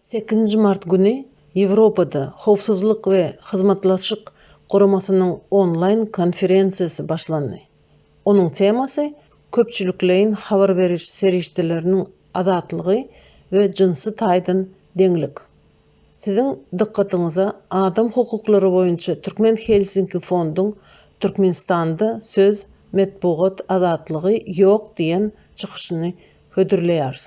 Sekizinji mart güni Ýewropada Howpsuzlyk we Hyzmatdaşlyk Guramasynyň onlaýn konferensiýasy başlandy. Onuň temasy köpçülikleýin habar beriş serişdeleriniň azatlygy we jynsy taýdan deňlik. Siziň dykgatyňyza adam hukuklary boýunça Türkmen Helsinki fonduň Türkmenistanda söz, metbugat azatlygy ýok diýen çykyşyny hödürleýäris.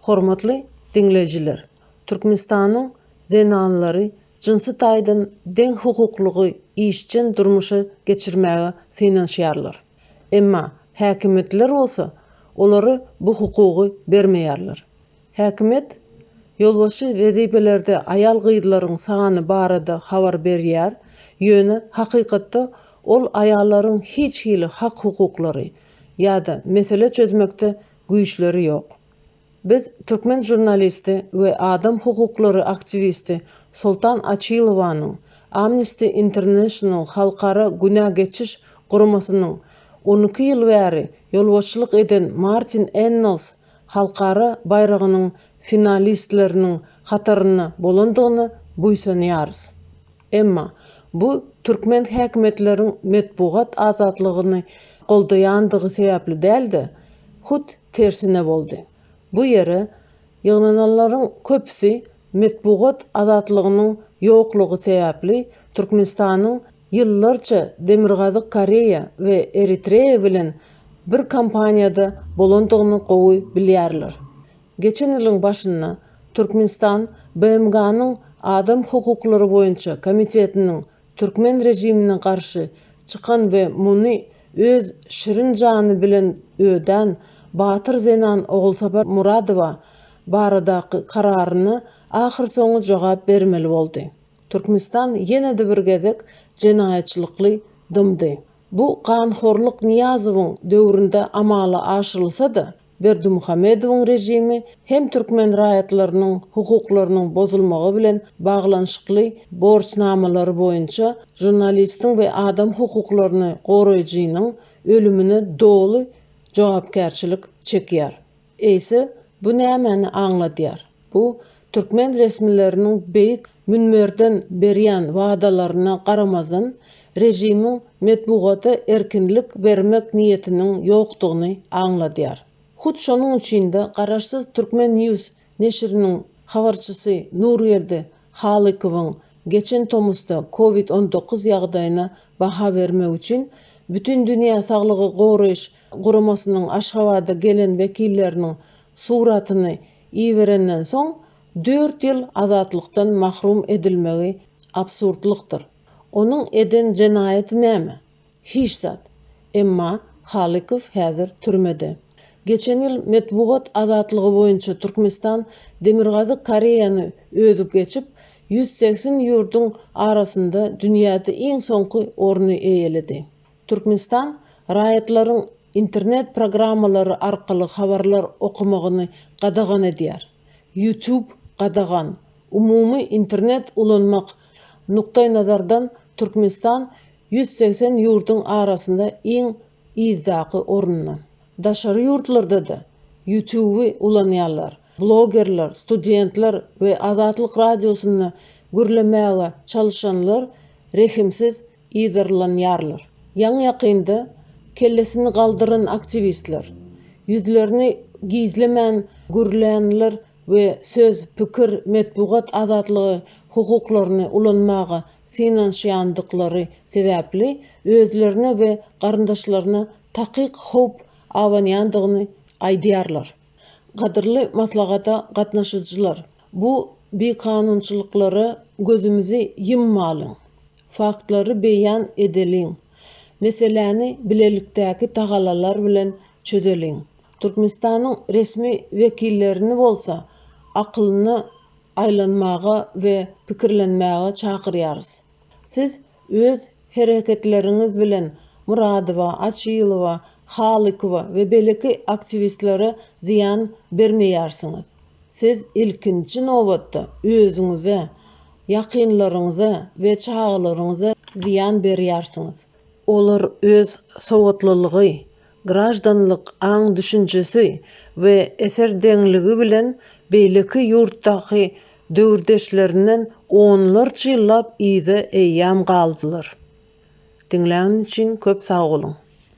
Hormatly diňleýjiler! Türkmenistanyň zenanlary jynsy taýdan deňhukuklygy işjeň durmuşa geçirmäge synanyşýarlar. Emma häkimiýetler bolsa olara bu hukugy bermeýärler. Häkimiýet ýolbaşçy wezipelerde aýal-gyzlaryň sany barada habar berýär, ýöne hakykatda ol aýallaryň hiç hili hak-hukuklary ýa-da mesele çözmekde güýçleri ýok. Biz türkmen žurnalisti we adam hukuklary aktiwisti Soltan Açilowanyň Amnesty International halkara günä geçiş guramasynyň on iki ýyl bäri ýolbaşçylyk eden Martin Ennals halkara baýragynyň finalistleriniň hatarynda bolandygyna buýsanýarys. Emma bu türkmen häkimiýetleriň metbugat azatlygyny goldaýandygy sebäpli däl-de, hut tersine boldy. Bu ýere ýygnananlaryň köpüsi metbugat azatlygynyň ýoklugy sebäpli Türkmenistanyň ýyllarça Demirgazyk Koreýa we Eritreýa bilen bir kompaniýada bolandygyny gowy bilýärler. Geçen ýylyň başynda Türkmenistan BMG-niň Adam hukuklary boýunça komitetiniň türkmen režimine garşy çykan we muny öz şirin jany bilen ödän batyr zenan Ogulsapar Muradowa baradaky kararyna ahyrsoňy jogap bermeli boldy. Türkmenistan ýene-de bir gezek jenaýatçylykly dymdy. Bu ganhorlyk Nyýazowyň döwründe amala aşyrylsa-da, Berdimuhamedowyň režimi hem türkmen raýatlarynyň hukuklarynyň bozulmagy bilen baglanyşykly borçnamalary boýunça žurnalistiň we adam hukuklaryny goraýjynyň ölümine doly jogapkärçilik çekýär. Eýse, bu nämäni aňladýar? Bu türkmen resmileriniň beýik münberden berýän wadalaryna garamazdan, režimiň metbugata erkinlik bermek niýetiniň ýokdugyny aňladýar. Hut şonuň üçin-de garaşsyz Turkmen. News neşiriniň habarçysy Nurgeldi Halykowyň geçen tomusda Covid on dokuz ýagdaýyna baha bermek üçin Bütindünýä saglygy goraýyş guramasynyň Aşgabada gelen wekilleriniň suratyny iberenden soň dört ýyl azatlykdan mahrum edilmegi absurdlykdyr. Onuň eden jenaýaty näme? Hiç zat. Emma Halykow häzir türmede. Geçen ýyl metbugat azatlygy boýunça Türkmenistan Demirgazyk Koreýany özüp geçip, ýüz segsen ýurduň arasynda dünýäde iň soňky orny eýeledi. Türkmenistan raýatlaryň internet programmalary arkaly habarlar okamagyny gadagan edýär. YouTube gadagan. Umumy internet ulanmak nukdaýnazardan Türkmenistan ýüz segsen ýurduň arasynda iň yzdaky orunda. Daşary ýurtlarda-da YouTube-y ulanýarlar. Blogerler, studentler we Azatlyk Radiosynda gürlemäge çalyşanlar rehimsiz yzarlanýarlar. Ýaňy-ýakynda kellesini galdyran aktiwistler, ýüzlerini gizlemän gürlänler we söz, pikir, metbugat azatlygy hukuklaryny ulanmaga synanyşýandyklary sebäpli özlerine we garyndaşlaryna takyk howp abanýandygyny aýdýarlar. Gadyrly maslahata gatnaşyjylar, bu bikanunçylyklara gözümizi ýymmalyň, faktlary beýan edeliň, meseläni bilelikdäki tagallalar bilen çözeliň, Türkmenistanyň resmi wekillerini bolsa akylyna aýlanmaga we pikirlenmäge çakyrýarys. Siz öz hereketleriňiz bilen Muradowa, Açylowa, Halykowa we beleki aktiwistlere zyýan bermeýärsiňiz. Siz ilkinji nobatda özüňize, ýakynlaryňyza we çagalaryňyza zyýan berýärsiňiz. Olar öz sowatlylygy, graždanlyk aň-düşünjesi we eser deňligi bilen beýleki ýurtdaky döwürdeşlerinden onlarça ýyllap yza eýýam galdylar. Diňläniň üçin köp sag boluň!